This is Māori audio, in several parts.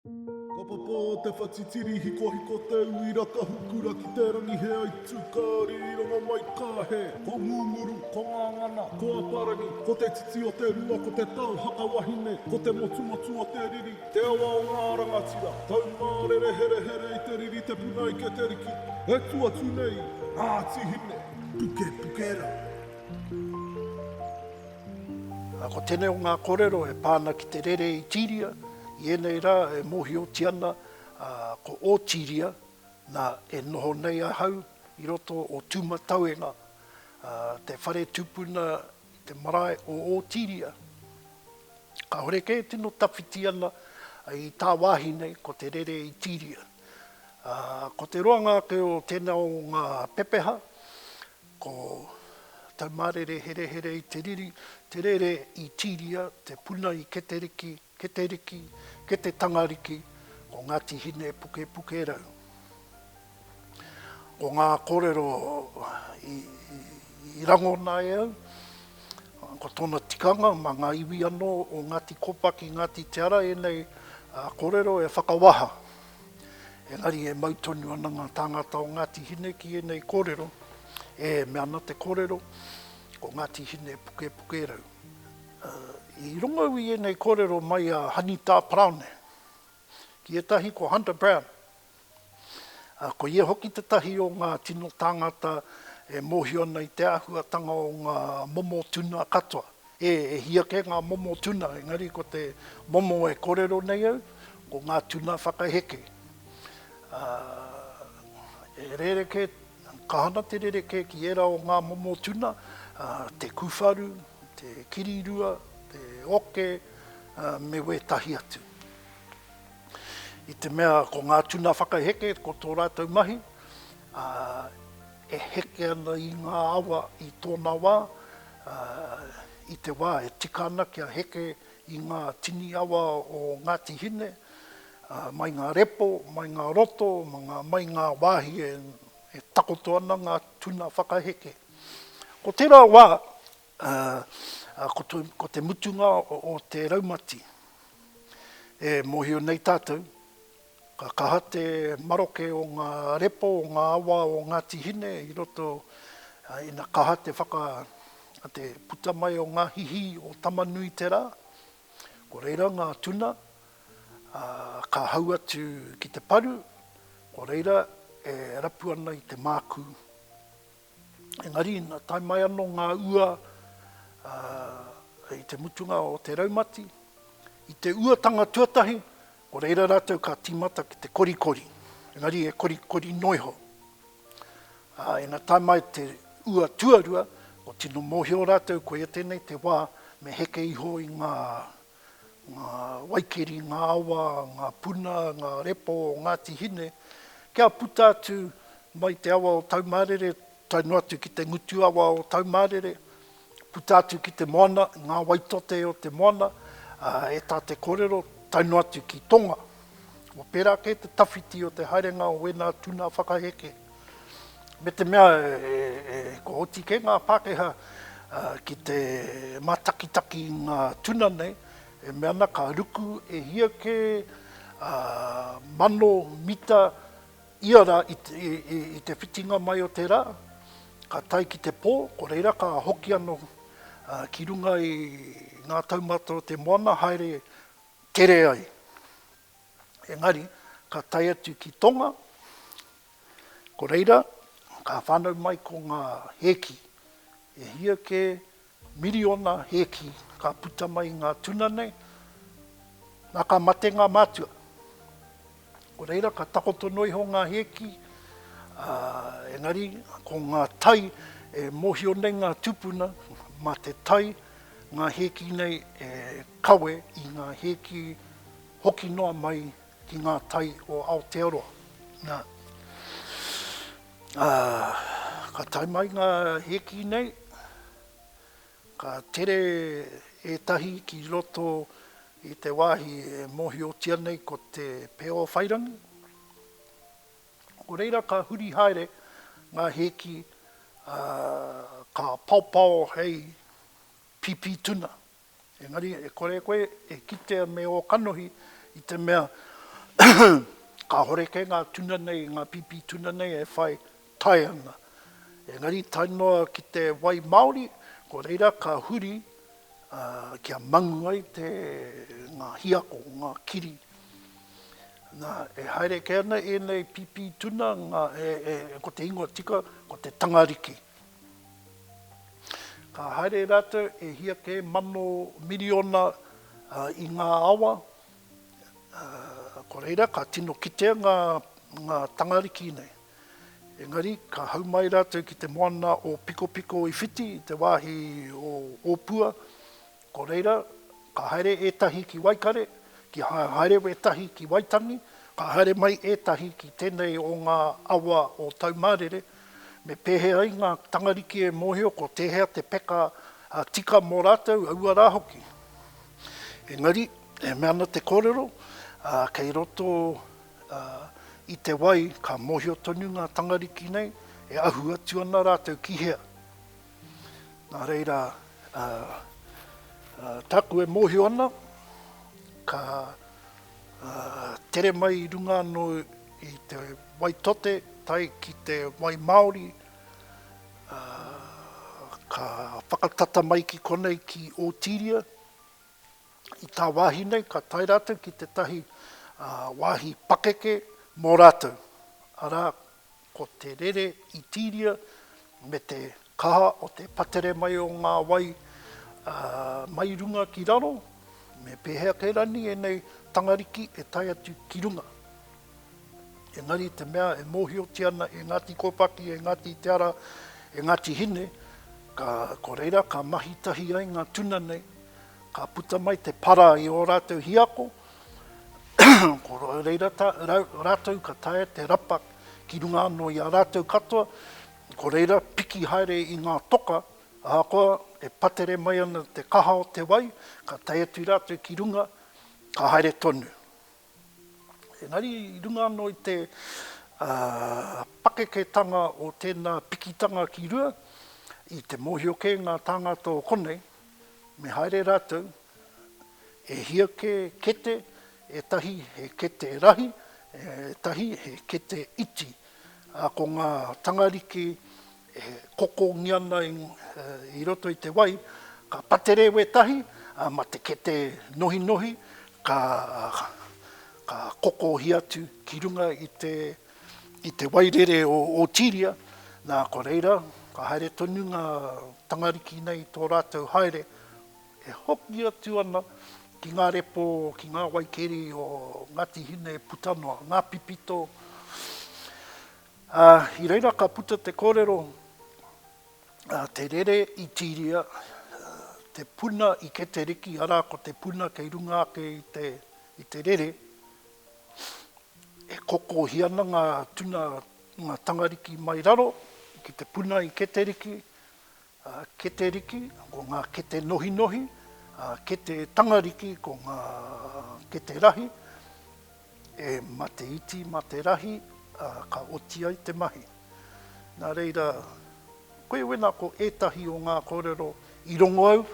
Ka papa te whatitiri hikohiko te uira ka hukura ki te rangi he aitu ka rironga mai ka he Ko Ngunguru, ko Ngangana, ko Aparangi Ko te titi o te rua ko te tau haka wahine Ko te motumotu o te riri, te awa o ngā rangatira Taumārere herehere i te riri te puna ike te riki E tu atu nei ngā tihine, pukepuke rā. Ko tenei o ngā korero e pa ana ki te rere i tiria. I ēnei rā e mōhiotia ana ko Ōtiria, nā, e noho nei ahau i roto o Tūmatauenga, te whare tupuna i te marae o Ōtiria. Kāore kē e tino tawhiti ana i tāwāhi nei ko te rere i Tiria. Ko te roanga ake o tēnā o ngā pepeha, Ko Taumārere herehere i te riri, te rere i Tīria, te puna i Keteriki, Keteriki, Kete Tangariki, ko Ngāti Hine Pukepukerau. Ko ngā kōrero i rangona e au, ko tōna tikanga mā ngā iwi anō o Ngāti Kopaki, Ngāti Te Ara, ēnei kōrero e whakawaha. Engari e mau tonu ana ngā tāngata o Ngāti Hine ki ēnei kōrero, e mea ana te kōrero, ko Ngāti Hine e pukepukerau. I rongo au i ēnei kōrero mai a Hanitā Parāone, ki ētahi ko Hunter Brown, ko ia hoki tētahi o ngā tino tāngata e mōhio ana i te āhuatanga o ngā momo tuna katoa. E hī ake ngā momo tuna, engari ko te momo e kōrero nei au, ko ngā tuna whakaheke. Ā, e rerekē, ka hana te rerekē ki ērā o ngā momo tuna, ā, te kuwharu, te kirirua, te oke, ā, me wētahi atu. I te mea ko ngā tuna whakaheke ko tō rātou mahi, ā, e heke ana i ngā awa i tōna wā, ā, i te wā e tika ana kia heke i ngā tini awa o Ngāti Hine, ā, mai ngā repo, mai ngā roto, mai ngā wāhi e takoto ana ngā tuna whakaheke. Ko tērā wā, Ā, ko te mutunga o te raumati, e mōhio nei tātou, ka kaha te maroke o ngā repo o ngā awa o Ngāti Hine i roto, ina kaha te whaka, te puta mai o ngā hihi o Tama-nui-te-rā, ko reira ngā tuna, ā, ka hau atu ki te paru, ko reira e rapu ana i te mākū. Engari ina tae mai ano nga ua i te mutunga o te raumati, i te uatanga tuatahi, ko reira ratou ka timata ki te korikori, engari e korikori noa iho. A ina tae mai te ua tuarua, ko tino mohio ratou koia tenei te wa me heke iho i nga ngā waikeri, ngā awa, ngā puna, ngā repo o Ngāti Hine, kia puta atu mai te awa o Taumārere, tae noa atu ki te ngutu awa o Taumārere, puta atu ki te moana, ngā waitote o te moana, e tā te kōrero, tae noa atu ki Tonga. Ko tērā kē te tawhiti o te haerenga o wēnā tuna whakaheke. me te mea e kua oti kē ngā Pākehā ki te mātakitaki i ngā tuna nei, e mea ana ka ruku e hia kē mano mita ia rā i te whitinga mai o te rā, ka tae ki te pō, ko reira ka hoki anō ki runga i ngā taumata o te moana haere tere ai. engari ka tae atu ki Tonga, ko reira ka whanau mai ko nga hēki, e hia ke miriona hēki ka puta mai i nga tuna nei, na ka mate nga mātua. Ko reira ka takoto noa iho nga hēki, a, engari ko nga tai e mohio nei nga tupuna, ma te tai nga hēki nei e Kawe i ngā hēki hoki noa mai ki ngā tai o Aotearoa. Nā, ā, ka tae mai ngā hēki nei, ka tere ētahi ki roto i te wāhi e mōhiotia nei ko te Peowhairangi. Nō reira ka huri haere ngā hēki, ā, ka paopao hei pīpī tuna. Engari, e kore koe e kitea me ō kanohi i te mea kāhore kē ngā tuna nei, ngā pīpī tuna nei e whai tae ana. Engari, tae noa ki te wai māori, ko reira ka huri kia mangu ai te, ngā hiako, ngā kiri. Nā, e haere kē ana ēnei pīpī tuna, ngā, e, e, ko te ingoa tika, ko te tangariki. Ka haere rātou e hia kē mano miriona i ngā awa, ko reira ka tino kitea ngā tangariki nei. Engari, ka hau mai rātou ki te moana o Pikopiko i whiti i te wāhi o Ōpua, Ko reira, ka haere ētahi ki Waikare, ki haere wētahi ki Waitangi, ka haere mai ētahi ki tēnei o ngā awa o Taumārere, me pēhea ai ngā tangariki e mōhio ko tēhea te peka tika mō rātou aua rā hoki. Engari, e mea ana te kōrero, kei roto i te wai ka mōhio tonu ngā tangariki nei e ahu atu ana rātou ki hea. Nā reira, tāku e mōhio ana, ka tere mai i runga anō i te wai tote tae ki te wai māori, ka whakatata mai ki konei ki Ōtīria, i tāwāhi nei ka tae rātou ki tētahi wāhi pakeke mō rātou, arā, Ko te rere i tiria me te kaha o te patere mai o ngā wai mai runga ki raro, me pēhea kē rani ēnei tangariki e tae atu ki runga. Engari te mea e mōhiotia ana e Ngāti Kōpaki, e Ngāti Te Ara, e Ngāti Hine, ka, ko reira ka mahi tahi ai ngā tuna nei, ka puta mai te para i ō rātou hiako, Ko reira rātou ka taea te rapa ki runga anō i a rātou katoa, ko reira piki haere i ngā toka, ahakoa e patere mai ana te kaha o te wai, ka tae atu rātou ki runga, ka haere tonu. Engari i runga anō i te pakeketanga o tēnā pikitanga ki rua, i te mōhio kē ngā tāngata o konei, Me haere ratou, e hia ke kete, etahi he kete rahi, etahi he kete iti, a ko nga tangariki e kokongi ana i roto i te wai, ka patere wetahi, a ma te kete nohinohi ka kokohi atu ki runga i te. I te wairere o Otiria, nā ko reira, ka haere tonu ngā tangariki nei i tō rātou haere, e hoki atu ana ki ngā repo, ki ngā waikeri o Ngāti Hine puta noa, ngā pipito, ā, i reira ka puta te kōrero, ā, te rere i Tīria, te puna i Keteriki, arā, ko te puna kei runga ake i te, i te rere, E kokohi ana ngā tuna, ngā tangariki mai raro ki te puna i Keteriki, Keteriki, ko ngā kete nohinohi, kete tangariki ko ngā kete rahi, e mate iti mā te rahi, ā, ka oti ai te mahi. Nā reira, koe wena ko ētahi o ngā kōrero i rongo au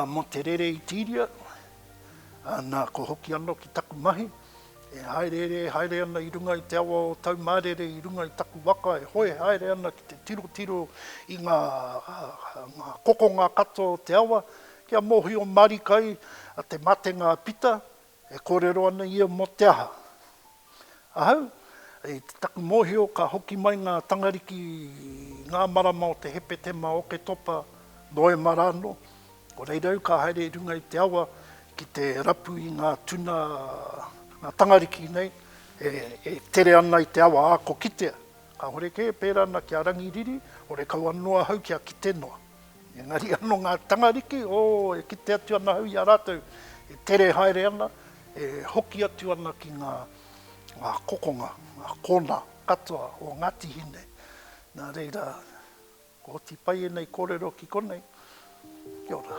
mō te rere i Tīria, Nā, kua hoki anō ki taku mahi, e hāereere haere ana i runga i te awa o tau mārere i runga i taku waka e hoe haere ana ki te tirotiro i ngā kokonga katoa o te awa, kia mōhio marika ai te matenga a Pita, e kōrero ana ia mō te aha. Ahau, i taku mōhio ka hoki mai ngā Tangariki ngā marama o te Hepetema, Oketopa, Noema rānō, ko reira au ka haere i runga i te awa ki te rapu i ngā tuna, ngā Tangariki nei e tere ana i te awa ako kitea. Kāhore kē, pērā ana ki a Rangiriri, horekau anō ahau kia kite noa. Engari ano nga tangariki, o, e kite atu ana au i a ratou e tere haere ana, e hoki atu ana ki nga, nga kokonga, nga kona katoa o Ngati Hine. Na reira, ko oti pai enei korero ki konei. Kia ora.